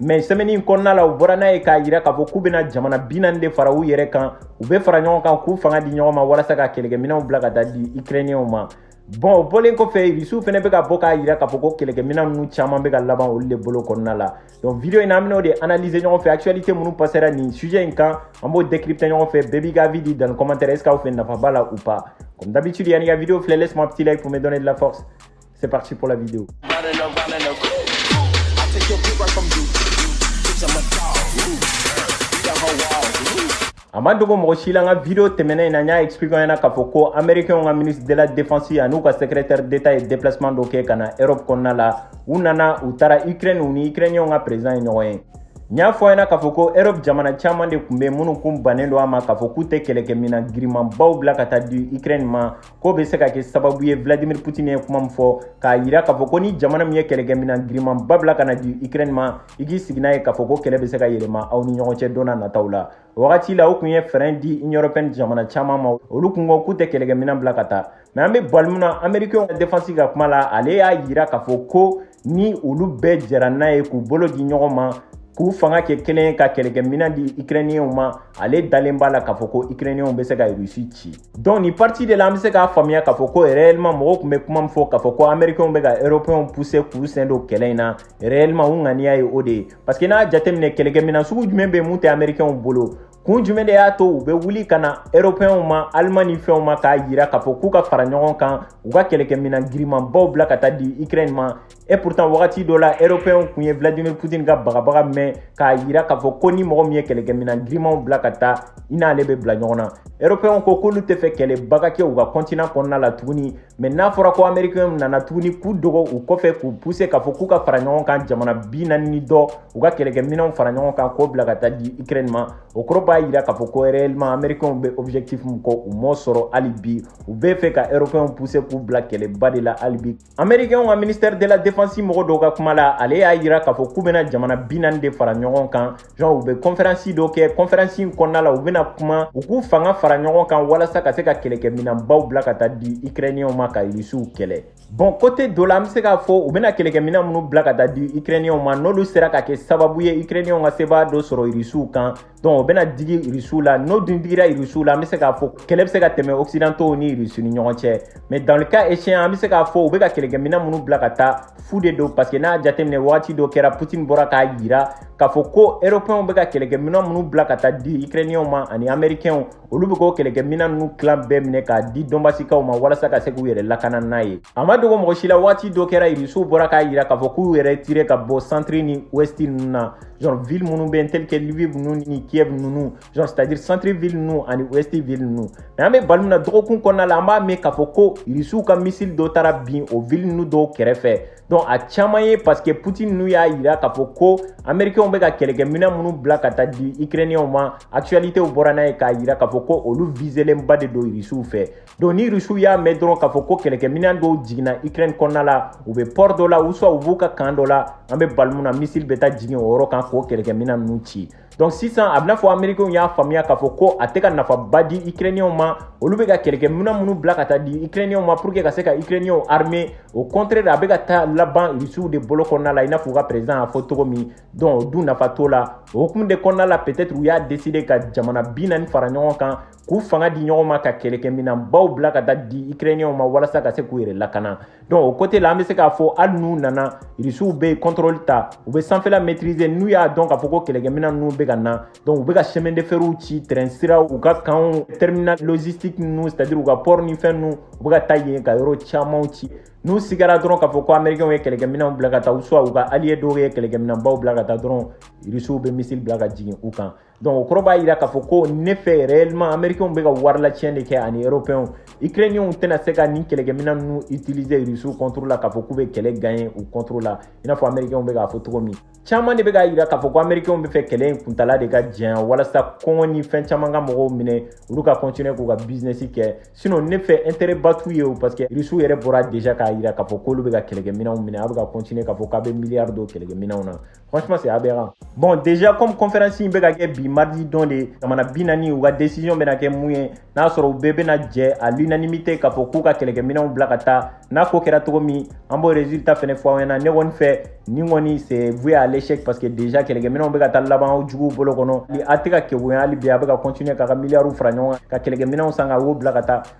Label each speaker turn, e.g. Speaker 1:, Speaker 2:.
Speaker 1: mɛ sɛmɛni in kɔnɔna la u bɔra n'a ye k'a yira k'a fɔ k'u bɛna jamana bi naani de fara u yɛrɛ kan u bɛ fara ɲɔgɔn kan k'u fanga di ɲɔgɔn ma walasa ka kɛlɛkɛminɛnw bila ka taa di ikirɛniyɛnw ma bɔn o bɔlen kɔfɛ irisiw fɛnɛ bɛ ka bɔ k'a yira k'a fɔ ko kɛlɛkɛminɛn ninnu caman bɛ ka laban olu de bolo kɔnɔna la donc video in na an bɛn'o de analyser ɲɔgɔn fɛ actualité minnu passera nin sujet in kan an b'o décrypter ɲɔgɔn fɛ bɛɛ b'i ka avis di dans commentaire est ce que aw fɛ nafa b'a la ou pas comme d'habitude yan'i ka video filɛ laisse moi petit like pour me donner de la force C'est parti pour la vidéo. a ma dogo mɔgɔ si la n ka video tɛmɛnen in na n y'a expliquer ɲɛna k'a fɔ ko américainw ka ministre de la défense an'u ka secrétaire d'état ye déplacement dɔ kɛ ka na europe kɔnɔna la u nana u taara ukraine u ni ukrainiyɛnw ka président ye ɲɔgɔn ye n y'a fɔ a ɲɛna k'a fɔ ko europe jamana caman de kun bɛ minnu kun bannen don a ma k'a fɔ k'u tɛ kɛlɛkɛminan girimanbaw bila ka taa di ukraine ma k'o bɛ se ka kɛ sababu ye vladimir putin ye kuma min fɔ k'a yira k'a fɔ ko ni jamana min ye kɛlɛkɛminan girimanba bila ka na di ukraine ma i k'i sigi n'a ye k'a fɔ ko kɛlɛ bɛ se ka yɛlɛma aw ni ɲɔgɔn cɛ don na nataw la o wagati la o kun ye frein di union européenne jamana caman ma olu kun ko k'u tɛ kɛlɛkɛminan bila ka taa mɛ an bɛ waati min na amerikɛnw ka defansi ka kuma la ale y'a yira k'a fɔ ko ni olu bɛɛ jɛra n'a ye k'u bolo di ɲɔgɔn ma k'u fanga kɛ kelen ka kɛlɛkɛminɛn di ukrainiyɛnw ma ale dalen b'a la k'a fɔ ko ukrainiyɛnw bɛ se ka rusi ci donc nin partie de la an bɛ se k'a faamuya k'a fɔ ko réellement mɔgɔw kun bɛ kuma min fɔ k'a fɔ ko américainw bɛ ka européenw pousser k'u sen don kɛlɛ in na réellement u ŋaniya ye o de ye parce que n'a jateminɛ kɛlɛkɛminɛn sugu jumɛn bɛ min tɛ américainw bolo kun jumɛn de y'a to u bɛ wuli ka na eropɛnw ma alimani fɛnw ma k'a yira k'a fɔ k'u ka fara ɲɔgɔn kan u ka kɛlɛkɛminan girimanbaw bila ka taa di ukraine ma et pourtant wagati dɔ la eropɛnw kun ye vladimir putin ka bagabaga mɛn k'a yira k'a fɔ ko ni mɔgɔ min ye kɛlɛkɛminan girimanw bila ka taa i n'ale bɛ bila ɲɔgɔn na eropɛnw ko k'olu tɛ fɛ kɛlɛba ka kɛ u ka kɔntinan kɔnɔna la tuguni mɛ n'a fɔra ko amerikɛnw nana tuguni k'u dogo u kɔfɛ k'u puse k'a fɔ k'u ka fara ɲɔgɔn kan jamana bi naani ni dɔ u ka kɛlɛkɛminɛnw fara ɲɔgɔn kan k'o bila ka taa di ukraine ma o kɔrɔ b'a yira k'a fɔ ko réellement amerikɛnw bɛ objectif min kɔ u m'o sɔrɔ hali bi u bɛ fɛ ka européenw puse k'u bila kɛlɛba de la hali bi amerikɛnw ka ministère de la défense mɔgɔ dɔ ka kuma la ale y'a yira k'a fɔ k'u bɛna jamana bi naani de fara ɲɔgɔn kan Genre, u bɛ kɔnferansi dɔ kɛ kɔnferansi in kɔnɔna la u bɛna kuma u k'u fanga fara ɲɔgɔn kan walasa ka se ka kɛlɛkɛminɛnbaw bila ka taa di ikrɛniyɛnw ma ka irisiw kɛlɛ bɔn kote dɔ la an bɛ se k'a fɔ u bɛna kɛlɛkɛminɛn minnu bila ka taa di ikrɛniyɛnw ma n'olu sera ka kɛ sababu ye ikrɛniyɛnw ka sebaa dɔ sɔrɔ irisiw kan donc o bɛna digi irisiw la n'o dun digira irisiw la an bɛ se k'a fɔ kɛlɛ bɛ se ka tɛmɛ occidentaux ni irisi ni ɲɔgɔn cɛ mais dans le cas échéant an bɛ se k'a fɔ u bɛ ka kɛlɛkɛminɛn minnu bila ka taa fu de don parce que n'a jateminɛ wagati dɔ kɛra putin bɔra k'a yira k'a fɔ ko eropɛnw bɛ ka kɛlɛkɛminɛn minnu bila ka taa di ukrainiyɛnw ma ani amerikɛnw olu bɛ k'o kɛlɛkɛminɛn ninnu tilan bɛɛ minɛ k'a di dɔnbasikaw ma walasa ka se k'u yɛrɛ lakana n'a ye a ma dogo mɔgɔ si la waati dɔ kɛra irisiw bɔra k'a yira k'a fɔ k'u y'u retirer ka bɔ santiri ni wɛsti ninnu na genre ville minnu bɛ yen tel que lviv ninnu ni kiev ninnu genre c'est à dire centre ville ninnu ani wɛsti ville ninnu mais an bɛ bali min na dɔgɔkun kɔnɔna la an b'a mɛn k'a fɔ ko irisiw ka misili dɔ taara bin o ville ninnu dɔw kɛrɛfɛ donc a caman ye parce que putin n'u y'a yira k'a fɔ ko americainw bɛ ka kɛlɛkɛminɛ minnu bila ka taa di ukrainienw ma actualités bɔra n'a ye k'a yira k'a fɔ ko olu viselenba de don rusiw fɛ donc ni rusiw y'a mɛn dɔrɔn k'a fɔ ko kɛlɛkɛminɛn dɔw jiginna ukraine kɔnɔna la u bɛ port dɔ la ou soit u b'u ka kan dɔ la an bɛ bali min na missile bɛ taa jigin o yɔrɔ kan k'o kɛlɛkɛminɛn ninnu ci donc sisan a b'i n'a fɔ americainw y'a faamuya k'a fɔ ko a tɛ ka nafaba di ukrainienw ma olu bɛ ka kɛlɛkɛminɛn minnu bila ka taa di ukrainienw ma pour que ka se ka ukrainienw armer au contraire a bɛ ka taa laban irisiw de bolo kɔnɔna la i n'a fɔ u ka président y'a fɔ cogo min donc o dun nafa t'o la o hukumu de kɔnɔna la peut-être u y'a décider ka jamana bi naani fara ɲɔgɔn kan k'u fanga di ɲɔgɔn ma ka kɛlɛkɛminɛn baw bila ka taa di ukrainiyɛnw ma walasa ka se k'u yɛrɛ lakana donc o côté la an bɛ se k'a fɔ hali n'u nana irisiw bɛ kɔntrɔli ta u bɛ sanfɛla maîtriser n'u y'a dɔn k'a fɔ ko kɛlɛkɛminɛn ninnu bɛ ka na donc u bɛ ka chemin de ferw ci train siraw u ka kanw terminal logistique ninnu c'est à dire u ka port ni fɛn ninnu u bɛ ka taa yen ka yɔrɔ camanw ci n'u sigara dɔrɔn k'a fɔ ko américainw ye kɛlɛkɛminɛnw bila ka taa ou soit u ka allié dɔw ye kɛlɛkɛminɛnbaw bila ka taa dɔrɔn irisiw bɛ missile bila ka jigin u kan donc o kɔrɔ b'a jira k'a fɔ ko ne fɛ réellement américainw bɛ ka warilaciyɛn de kɛ ani européenw ukrainienw tɛna se ka nin kɛlɛkɛminɛn ninnu utiliser rusiw contre la k'a fɔ k'u bɛ kɛlɛ gagner u contre la i n'a fɔ américainw bɛ k'a fɔ cogo min caman de bɛ k'a jira k'a fɔ ko américainw bɛ fɛ kɛlɛ in kuntala de ka janya walasa kɔngɔ ni fɛn caman ka mɔgɔw minɛ olu ka continuer k'u ka business kɛ sinon ne fɛ intérêt ba t'u ye o parce que rusiw yɛrɛ bɔra déjà k'a jira k'a fɔ k'olu bɛ ka kɛlɛkɛminɛnw minɛ a bɛ ka continuer k'a fɔ k'a bɛ milliard don kɛlɛkɛminɛnw na Franchement, c'est aberrant. Bon, déjà, comme conférence in bɛ ka kɛ bi mardi don de ye, jamana bi naani u ka décision bɛna kɛ mun ye, n'a sɔrɔ u bɛɛ bɛna jɛ à l'unanimité k'a fɔ k'u ka kɛlɛkɛminɛnw bila ka taa, n'a ko kɛra cogo min, an b'o résultat fɛnɛ fɔ aw ɲɛna. Ne kɔni fɛ, nin kɔni c'est voué à l'échec parce que déjà kɛlɛkɛminɛnw bɛ ka taa laban aw juguw bolo kɔnɔ. A tɛ ka kegunya hali bi, a bɛ ka continuer k'a ka miliyariw fara ɲɔgɔn kan, ka kɛlɛkɛminɛnw san ka o bila ka taa.